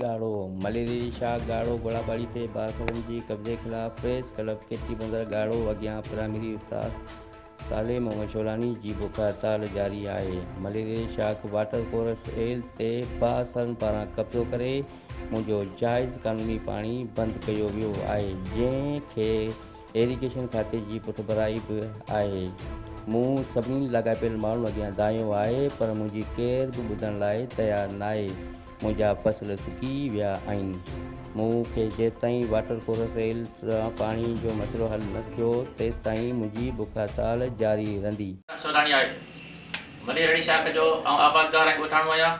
ڳاڙهو، مليري شاهه ڳاڙهو گولاٻاڙي تي بااثرن جي قبضي خلاف پريس ڪلب ڪيٽي بندر ڳاڙهو اڳيان پرائمري استاد صالح محمد شولاني جي بک هڙتال جاري آهي، مليريل شاخ واٽر ڪورس ايل تي بااثرن پاران قبضو ڪري منهنجو جائز قانوني پاڻي بند ڪيو ويو آهي جنهن کي ايريگيشن کاتي جي پٺڀرائي به آهي، مون سڀني لاڳاپيل ماڻهن اڳيان دانهيو آهي پر منهنجي ڪير به ٻڌڻ لاء تيار ناهي. منهنجا فصل سڪي ويا آهن. مون کي جيستائين واٽر ڪورس ريل سان پاڻي جو مسئلو حل نه ٿيو تيستائين منهنجي بک هڙتال جاري رهندي. سوڌاڻي آهي. ملير اهڙي شاخ جو آئون آبادگار ۽ ڳوٺاڻو آهيان.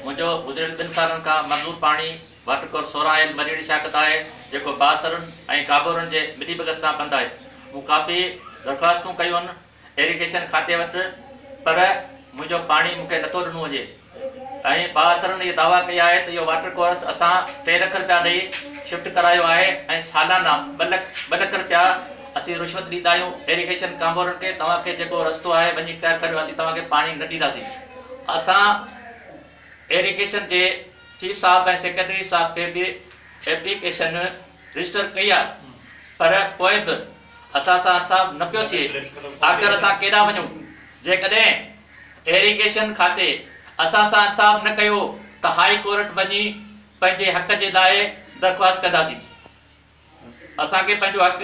منهنجو گذريل ٻن سالن کان منظور پاڻي واٽر ڪورس سورهن آيل مليري شاخ تان آهي جيڪو بااثرن ۽ ڪابورن جي ملي ڀڳت سان بند آهي. مون ڪافي درخواستون ڪيون. ايريگيشن کاتي وٽ پر منهنجو پاڻي مون کي نٿو ڏنو وڃي ۽ بااثرن اهي دعويٰ ڪئي آهي ته اهو واٽر ڪورس اسان ٽي لک رپيا ڏئي شفٽ ڪرايو آهي ۽ سالانا ٻه لک ٻه لک رپيا اسين رشوت ڏيندا آهيون ايريگيشن ڪامورن کي توهان کي جيڪو رستو آهي وڃي اختيار ڪريو اسين توهان کي پاڻي نه ڏينداسين اسان ايريگيشن جي چيف صاحب ۽ سيڪريٽري صاحب کي به ايپليڪيشن رجسٽر ڪئي آ پر پوء به اسان سان انصاف نه پيو ٿئي آخر اسان ڪيڏا وڃون جيڪڏهن ايريگيشن کاتي اسان سان انصاف نه ڪيو ته هاء ڪورٽ وڃي پنهنجي حق جي لاء درخواست ڪنداسين اسان کي پنهنجو حق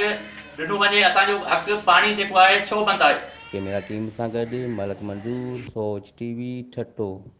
ڏنو وڃي اسان جو حق پاڻي جيڪو آهي ڇو بند آهي. ڪيميرا ٽيم سان گڏ ملڪ منظور، سوچ ٽي وي، ٺٽو.